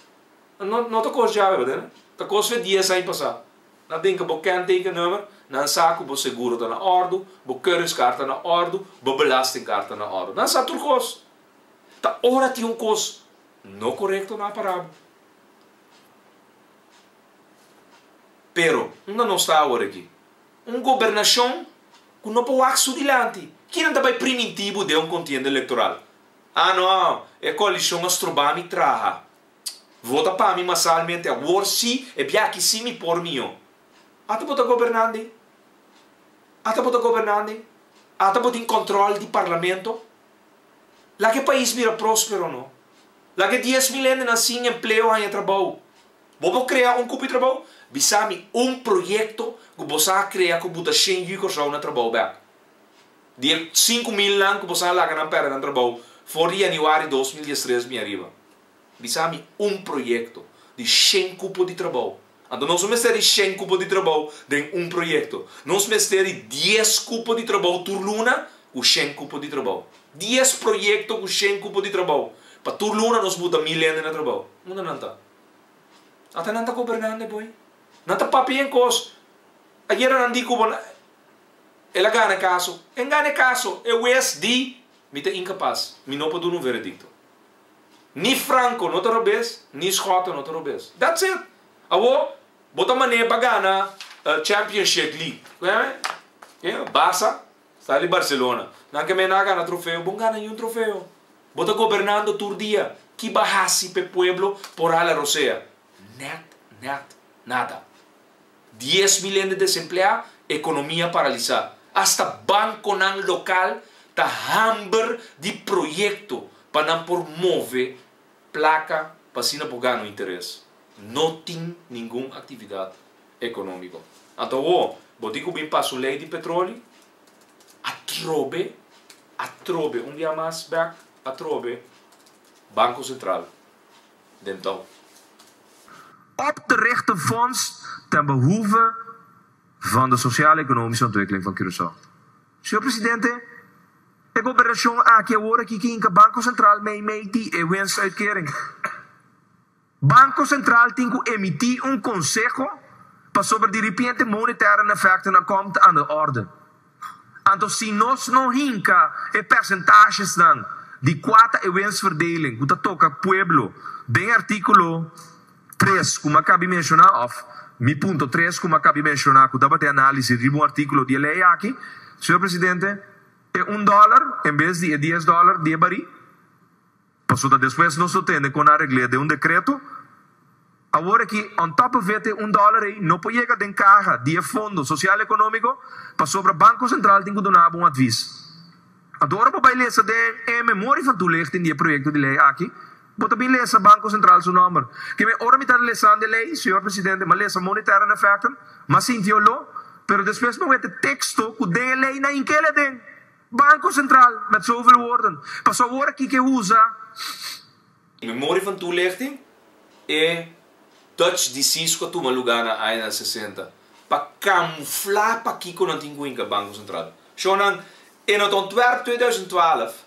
No, no ta kos djawe, bada? Ta kos fe dies aña pasá. Nan tin ka bo kenteken nummer, nan sa ku bo seguro ta na òrdu, bo keuringskaart ta na òrdu, bo belastingkaart ta na òrdu. Nan sa tur kos. Ta ora tin un kos no korekto na pará bo. Pero, unda nos ta awor aki? Un gobernashon ku no por wak su dilanti. Kinan ta bai primintibu den un kontienda elektoral? Ah no, e koalishon a stroba mi traha. Vota pa mi masalmente awor si, e biachi si mi por mió. Ata bo ta gobernandi? Ata bo ta gobernandi? Ata bo tin kòntròl di parlamento? Laga e pais bira próspero no. Laga e dies mil hendenan sin empleo haña trabou. Bo por crea un cupi trabao? Bisa mi un proyecto cu bo sa crea cu bo ta shen yu Corsao na trabao bek. Di e sinku mil nan cu bo sa laga nan perde nan trabao for di Januari dos mil diestres bin ariba. Bisa mi un proyecto di shen cupo di trabao. Anto nos no mester di shen cupo di trabao den un proyecto. Nos mester di dies cupo di trabao tur luna cu shen cupo di trabao. Dies proyecto cu shen cupo di trabao. Pa tur luna nos buta mil hende na trabao. Unda nan ta? Ata nan ta gobernando e boy. Nan ta papia en cos. Ayer anan di cubo nan. El a gana e caso. En gana e caso. E huez di mi ta incapaz. Mi no por duna un veredicto. Ni Franco no ta robez, ni Schotten no ta robez. That's it. Awor bo ta mane pa gana Championship League. Barca. Sa di Barcelona. Nan ke mena a gana trofeo, bon gana yu trofeo. Bo ta gobernando tur dia, ki ba hasi p'e pueblo por hala rosea? Nèt, nèt, nada. Dies mil hende desempleá, ekonomia paralisá. Asta bankonan lokal ta hamber di proyekto pa nan por move plaka pa asina por gana un interes. No tin ningun aktividat. economico. Anto awo, bo di cu bin pa su ley di petroli? Atrobe, atrobe, un dia mas back atrobe, Banco Central den touw. Op te richten fonds ten behoeve van de sociaal-economische ontwikkeling van Curaçao. Señor Presidente, e gobernacion aki awor aki ke hinka Banco Central meimei di e winstuitkering. Banco Central tin cu emiti un conseho pasobra di ripiente monetary and effect na com ta under orde. Anto si nos no hinca e percentajesnan di cua ta e winstverdeling cu ta toca pueblo den articulo tres cu mi a cabi menciona of mi punto tres cu mi a cabi menciona cu tabata e analisis riba un articulo di e ley aki, Señor Presidente, e un dollar en bes di e dies dollar diebari. Paso ta despues nos lo tende con a regle den un decreto. Awor aki, on top of it, e un dollar ey no por yega den caha di e fondo social economico, pasobra Banco Central tin cu duna abo un advis. Anto ora bo bay lesa den e memorie van toelichting di e proyecto di ley aki, bo ta bin lesa Banco Central su nomber. Kieme ora mi ta lesando e ley, señor Presidente, mi a lesa monetary and effectum, mi a sintió lo, pero despues mi a wete texto cu den e ley na hinkele aden. Banco Central met zoveel woorden, paso awor kiko usa. Memoria van toelichting, E Dutch disease cu a tuma lugar na aña nan sesenta pa camufla pakico nan tin cu hinca Banco Central. Shownan, E Nota Ontwerp tweeduizend twaalf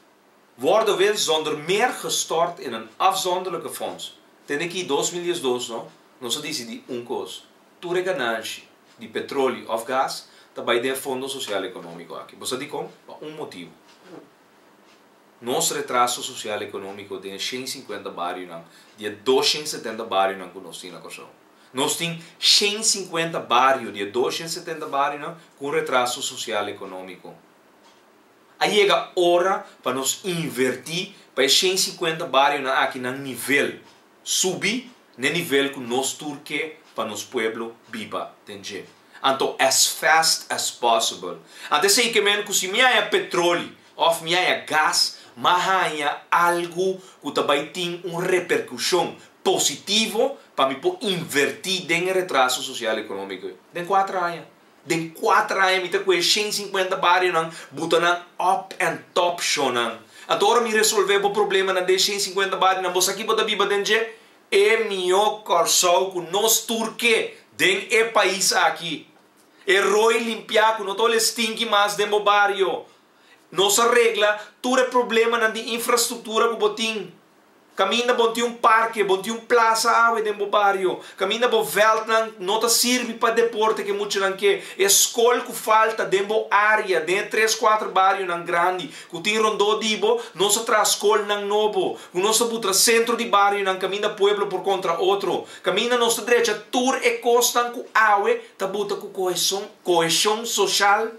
word dowel zonder meer gestort in een afzonderlijke fonds. Tende ki dos mil diesdos no, nos a dicidi un cos, tur e gananshi, di petrolio of gas ta bai den fondo social economico aki. Bo sa dicon? Pa un motibo. Nos retraso social economico den e shen i cincuenta barionan di e doshen i setenta barionan cu nos tin na Corsou. Nos tin shen i cincuenta bario di e doshen i setenta barionan cu un retraso social economico. A yega ora pa nos inverti pa e shen i cincuenta barionan aki nan nivel. subi n'e nivel cu nos tur ke pa nos pueblo biba den dje. Anto as fast as possible. Ant esey ke men cu si mi haya petroli of mi haya gas ma haya algu cu ta bay tin un repercusion positivo pa mi por inverti den e retraso social economico ey den cuater aña. Den kuater aña mi ta ku'e shen sinkuenta barionan buta nan op en top shownan. Anto ora mi resolve bo problema na den shen sinkuenta barionan bo sa ki bo ta biba den dje? E mihó Kòrsou ku nos tur ke den e pais aki. E roi limpiá ku no ta ole stinki mas den bo bario. Nos a regla tur e problemanan di infrastruktura ku bo tin. Kaminda bon tin un parke, bon tin un plasa awe den bo bario. Kaminda bo vèltnan no ta sirbi pa deporte ku e muchanan ke. E skol ku falta den bo área, den e tres kuater barionan grandi ku tin rondó di bo, nos a traha skolnan nobo, ku nos ta butra sentro di barionan kaminda pueblo por kontra otro. Kaminda nos ta drecha tur e kosnan ku awe ta buta ku koheshon, koheshon soshal.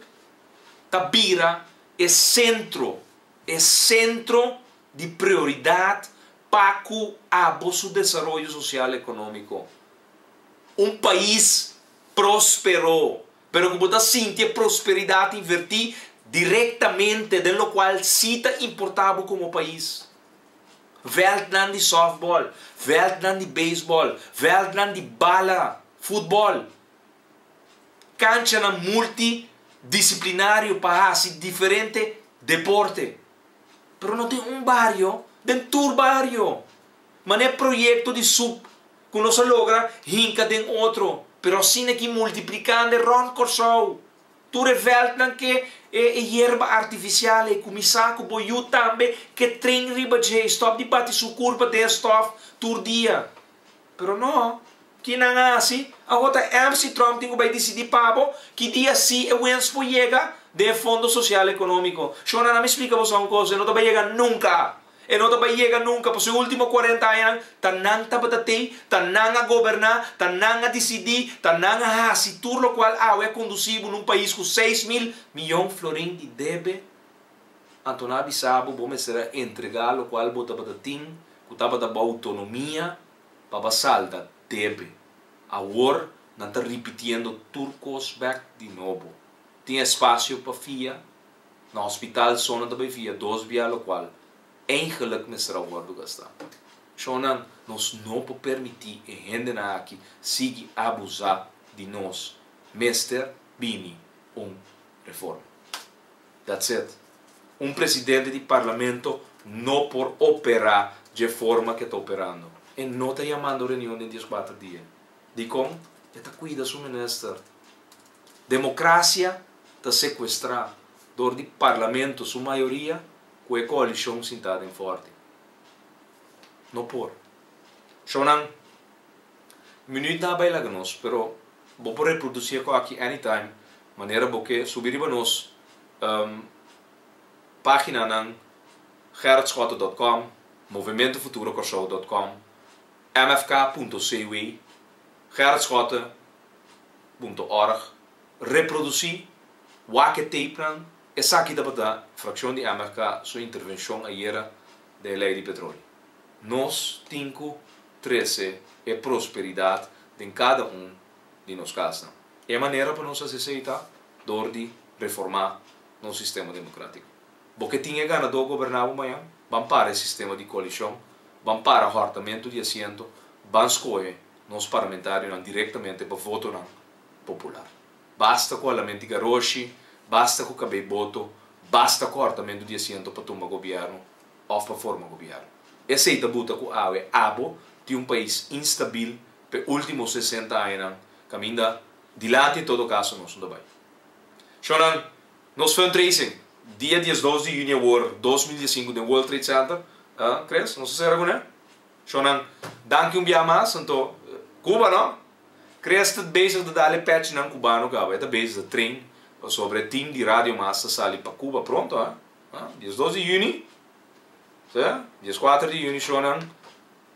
ta bira e sentro, e sentro di prioridad pa cu abo su desaroyo social economico. Un pais prospero, pero cu bo ta sinti e prosperidad inverti directamente den locual si ta importa bo como pais. Veldnan di softball, veldnan di baseball, veldnan di bala, futbol. kanchanan multidisiplinario pa hasi diferente deporte. Pero no tin un bario, den tur bario. Manera e proyekto di sup ku nos a logra hinka den otro, pero asina ki multiplikande rònt Kòrsou. Tur e vèldnan ke e yerba artifisial ei, kuminsá ku bo yu tambe ke tren riba dje, stòp di bati su kurpa den stòf tur dia. Pero no, ki nan a hasi? Awor ta èrs si Trump tin ku bai disidí pa bo ki dia sí e wens por yega den e Fondo Sosial Ekonómiko. Shona, na mi splika boso un kos, e no ta bai yega nunka. E no ta bai yega nunka, pasobra e último kuarenta añanan ta nan tabata tei, ta nan a goberná, ta nan a disidí, ta nan a hasi tur lokual awe a kondusí bo na un pais ku seis mil miyon florin di debe. Anto nan a bisa bo, bo mester a entregá lokual bo tabata tin ku tabata bo outonomia pa basal ta debe. Awor nan ta ripitiendo tur kos bèk di nobo. Tin espasio pa fia, na hospital so nan ta bai fia dos bia lokual eigenlik mester a wòrdu gastá. Shonnan, nos no por permití e hendenan aki sigui abusá di nos. Mester bini un reforma. That's it. Un presidente di parlamento no por opera dje forma ke ta operando. E no ta yamando reunion den dies kuater dia. Dikon? E ta kuida su minister. Demokrasia ta sekuestrá dor di parlamento su mayoria ku e koalishon sintá den forte. No por. Shownan, mi no yutá bai laga nos, pero bo por reprodusí e kò aki anytime manera bo ke subí riba nos páginanan gerardschotten dot com, movimiento futuro corsou dot com, mfk punto cw, gerardschotten punto org, reprodusí wak e tapenan, esaki tabata fraccion di mfk su intervención ayera. den lei di petroli. Nos tin cu trece e prosperidad den cada un di nos casnan. E manera pa nos haci esey ta door di reforma nos sistema democratico. Bo ke tin e gana door goberna bo mañan, ban para e sistema di coalicion, ban para hortamento di asiento, ban scohe nos parlamentarionan directamente pa votonan popular. Basta ku alamenti garoshi, basta ku kabei boto, basta kòrtamentu di asiento pa tumba gobièrnu òf pa forma gobièrnu. Esei ta buta ku awe abo tin un pais instabil p'e último sesenta añanan kaminda dilanti en todo kaso nos no ta bai. Shònan, nos fundraising dia diesdos di yüni awor dos mil diesinku den World Trade Center, Chris? Nos ta sera kuné? Shònan, danki un biaha mas. Anto, Cuba no? Crea sta bezig di dal e pechnan cubano caba e ta bezig di train pasobra e team di Radio Mas ta sali pa Cuba pronto a. Diesdos di juni ta dieskuater di juni shownan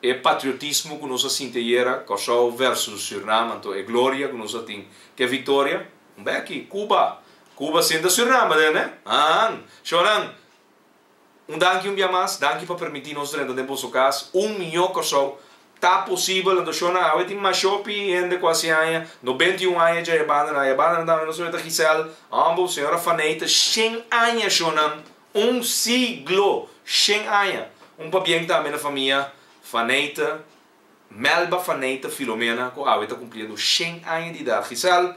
e patriotismo cu nos a sinti ayera Corsou versus Suriname anto e gloria cu nos a tin cu e victoria un beki Cuba Cuba sinda Suriname den ne haan shownan Un danki un bia mas, danki pa permiti nos drenta den boso cas un mió Corsou ta posibel na Doshona awe tin masho pi hende cu a siaña no benti un aña dje ebanda na ebanda na tambe nos a weta Gisèle Humble señora Faneite shen aña sho nan un siglo shen aña un pabien tambe na famia Faneite Melba Faneita Filomena ku awe ta kumplia doshen aña di idat. Gisèl,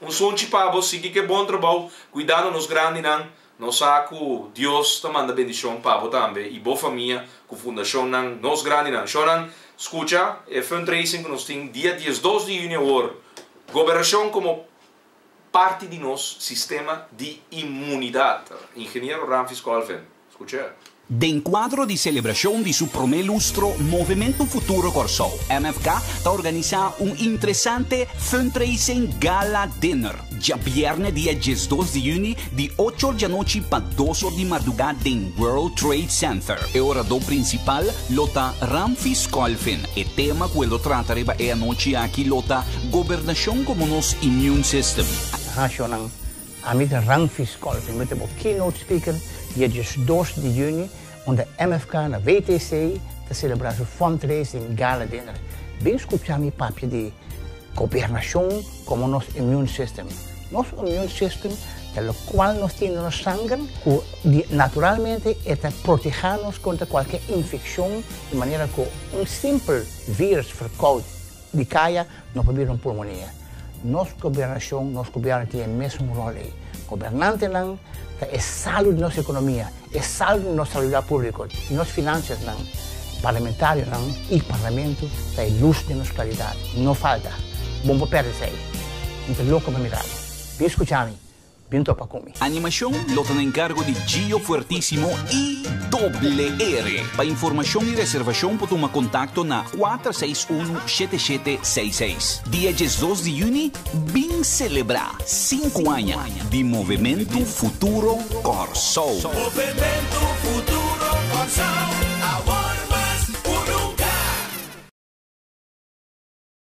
un sunchi pa bo, sigui ke bon trabou kuidando nos grandinan. Nos sa ku Dios ta manda bendishon pa bo tambe i bo famia ku fundashonnan Nos Grandinan. Shònan, skucha e fundraising ku nos tin dia diesdos di yuni awor. Goberashon komo parti di nos sistema di inmunidat. Ingeniero Ramfis Colvin, scucha. Den cuadro di celebracion di su prome lustro, Movimento Futuro Kòrsou, MFK, ta organisa un interesante Fundraising Gala Dinner djabièrnè dia diesdos di juni Di ochor di anochi pa dosor di mardugá den World Trade Center. E oradó prinsipal lo ta Ramfis Colvin. E tema ku el lo trata riba e anochi aki lo ta Gobernashon komo nos Immune System. Rashonan, Amita Ramfis Colvin lo ta bo keynote speaker dia diesdos di yüni. unda MFK na WTC ta selebrá su fundraising gala dinner. Bin skuchá mi papia di Gobernashon komo nos immune system. Nos immune system ta lokual nos tin den nos sanger ku di naturalmente e ta protehá nos kontra kualke infekshon di manera ku un simpel vírùs ferkout di kaya No por bira un pulmonia. Nos gobernashon, nos gobièrnu tin e mesun ròl ei. Gobernantenan ta e salu di nos ekonomia, e salu di nos salubridad públiko, di nos finansiasnan. Parlamentarionan i Parlamentu ta e lus den nos klaridat. No falta. Bon por pèrdese ei. Mi ta loko pa mirabo. Bin skucha mi. Bin topa ku mi. Animashon lo ta na enkargo di Gio Fuertisimo i Doble Ere. Pa informashon i reservashon por tuma kontakto na kuater seis unu shete shete seis seis. Dia diesdos di yüni bin selebrá sinku aña di Movementu Futuro Kòrsou. Movementu Futuro Kòrsou, awor mas ku nunka!